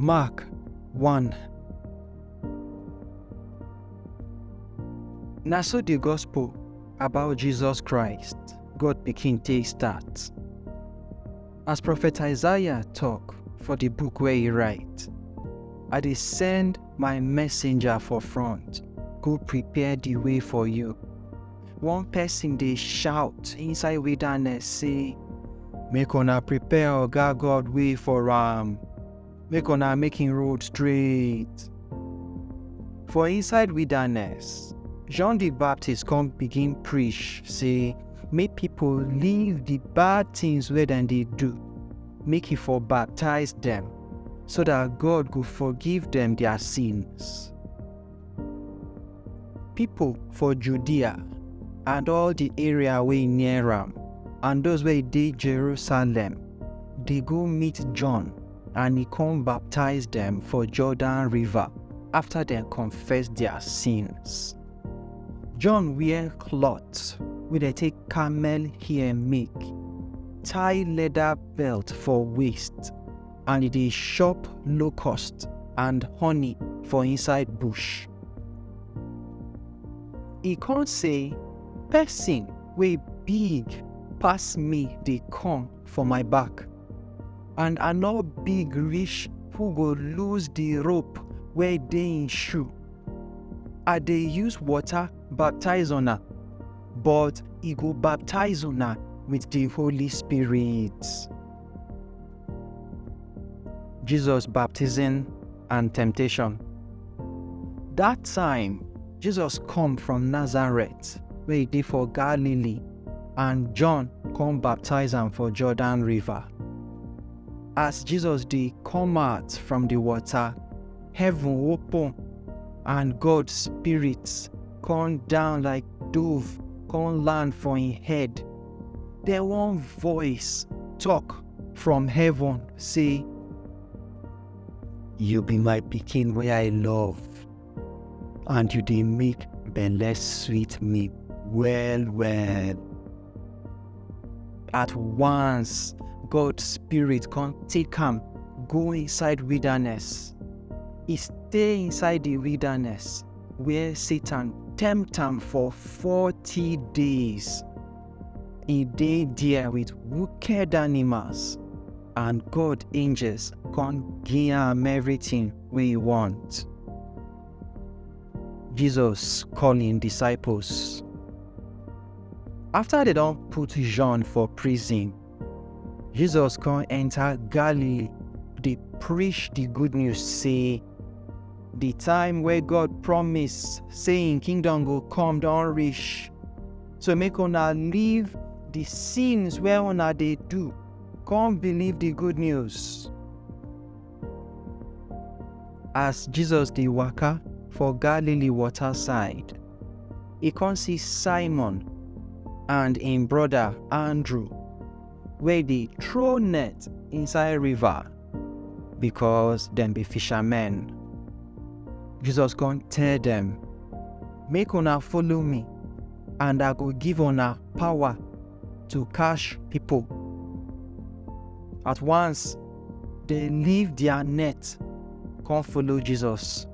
Mark 1 Na so the gospel about Jesus Christ, God Pikin take start. As Prophet Isaiah talk for the book where he write, I dey send my messenger for front, go prepare the way for you. One person dey shout inside wilderness say, Make una prepare Oga God way for am, make una make him road straight. For inside wilderness, John the Baptist come begin preach say, make people leave the bad things wey dem dey do, make he for baptize them, so that God go forgive them their sins. Pipo for Judea and all di area wey near am, and those wey dey Jerusalem, dey go meet John, and e come baptize dem for Jordan River after dem confess their sins. John wear cloth wey dem take camel hair make, tie leather belt for waist, and e dey chop locust and honey for inside bush. E come say, Person wey big pass me dey come for my back, and I no big reach who go lose the rope wey dey im shoe. I dey use water baptize una, but e go baptize una with the Holy Spirit. Jesus baptism and temptation. Dat time, Jesus come from Nazareth wey e dey for Galilee and John come baptize am for Jordan river. As Jesus dey come out from di water, heaven open and God spirit come down like dove come land for im head. Then one voice talk from heaven say, You be my pikin where I love, and you dey make belle sweet me well well. At once, God's spirit come take am go inside wilderness. He stay inside the wilderness where Satan tempt am for 40 days. He dey there with wicked animals and God angels come give am everything wey he want. Jesus call him disciples. After they don put John for prison, Jesus come enter Galilee dey preach the good news say The time wey God promise say im kingdom go come don reach. So make una leave the sins wey una dey do, come believe the good news. As Jesus dey waka for Galilee water side, e come see Simon and im brother Andrew. wey dey throw net inside river because dem be fishermen. Jesus come tell dem, Make una follow me, and I go give una power to catch people. At once, they leave their net, come follow Jesus.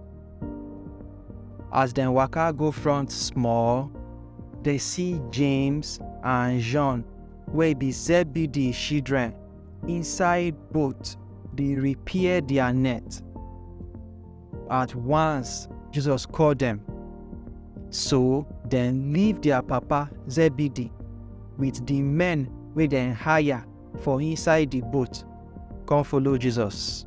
As dem waka go front small, they see James and John wey be Zebedee children inside boat dey repair their net. At once, Jesus call dem. So dem leave their papa Zebedee with the men wey dem hire for inside the boat come follow Jesus.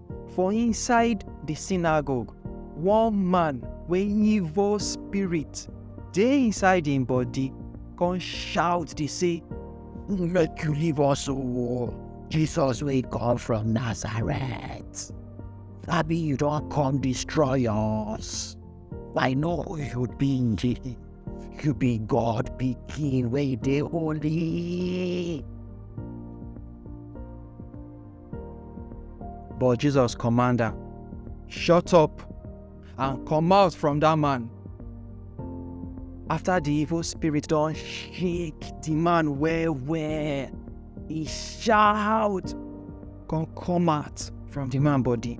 For inside the synagogue, one man wey evil spirit dey inside im body come shout dey say, Make you leave us o, Jesus wey come from Nazareth. Abi you don come destroy us? I know who you be. You be God pikin wey dey holy. But Jesus command am, Shut up and come out from that man. After the evil spirit don shake the man well well, he shout, come come out from the man body.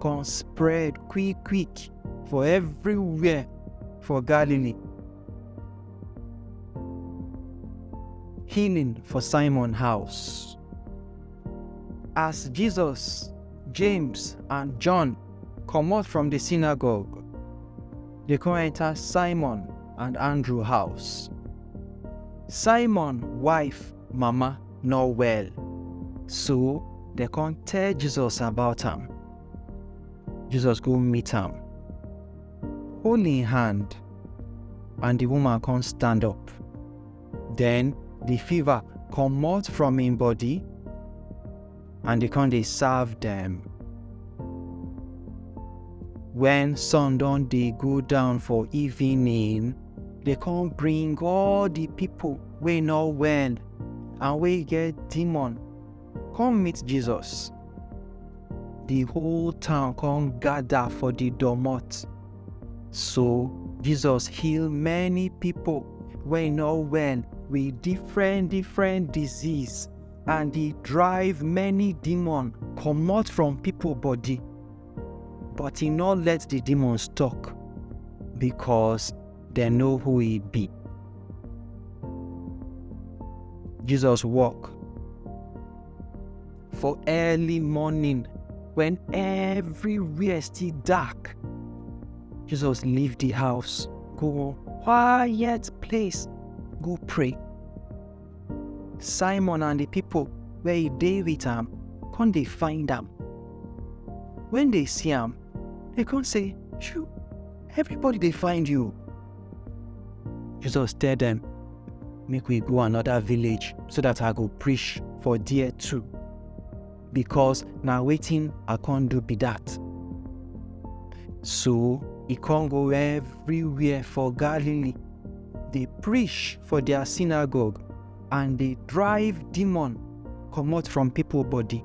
come spread quick quick for everywhere for Galilee. Healing for Simon house. As Jesus, James, and John come out from the synagogue, they come enter Simon and Andrew house. Simon wife mama no well. So dem come tell Jesus about am. Jesus go meet am, hold im hand, and the woman come stand up. Then the fever comot from im body, and e come dey serve dem. When sun don dey go down for evening, dey come bring all the people wey no well and wey get demon come meet Jesus. The whole town come gather for the domot. So Jesus heal many people wey no well with different different disease and he drive many demon comot from people body. But he no let the demons talk because dem know who e be. Jesus walk for early morning when everywhere still dark. Jesus leave the house, go one quiet place, go pray. Simon and the people where he dey with am come dey find am. When they see am, they come say, Shoo, Everybody they find you. Jesus tell them, make we go another village so that I go preach for dear too. Because now waiting I can't do be that. So he can't go everywhere for Galilee. They preach for their synagogue and they drive demon come out from people body.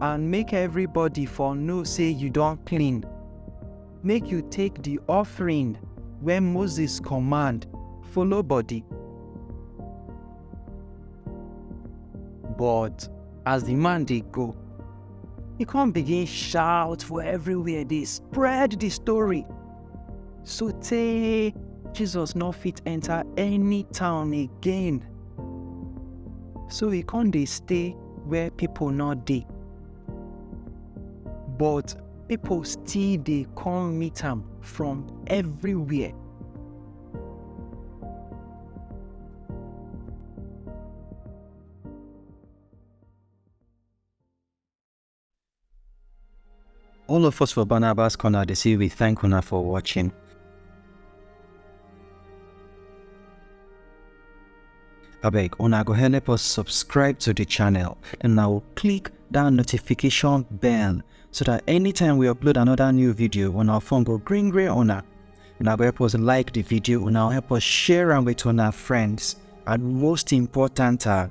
and make everybody for know say you don clean. Make you take the offering wey Moses command follow body. But as the man dey go, he come begin shout for everywhere dey spread the story sotey Jesus no fit enter any town again. So he come dey stay where people no dey. But people still dey come meet am from everywhere. All of us for Barnabas Corner, they say we thank una for watching. abeg una go help us subscribe to the channel and now click that notification bell so that anytime we upload another new video on our phone go green green una una go help us like the video una help us share am with our friends and most important are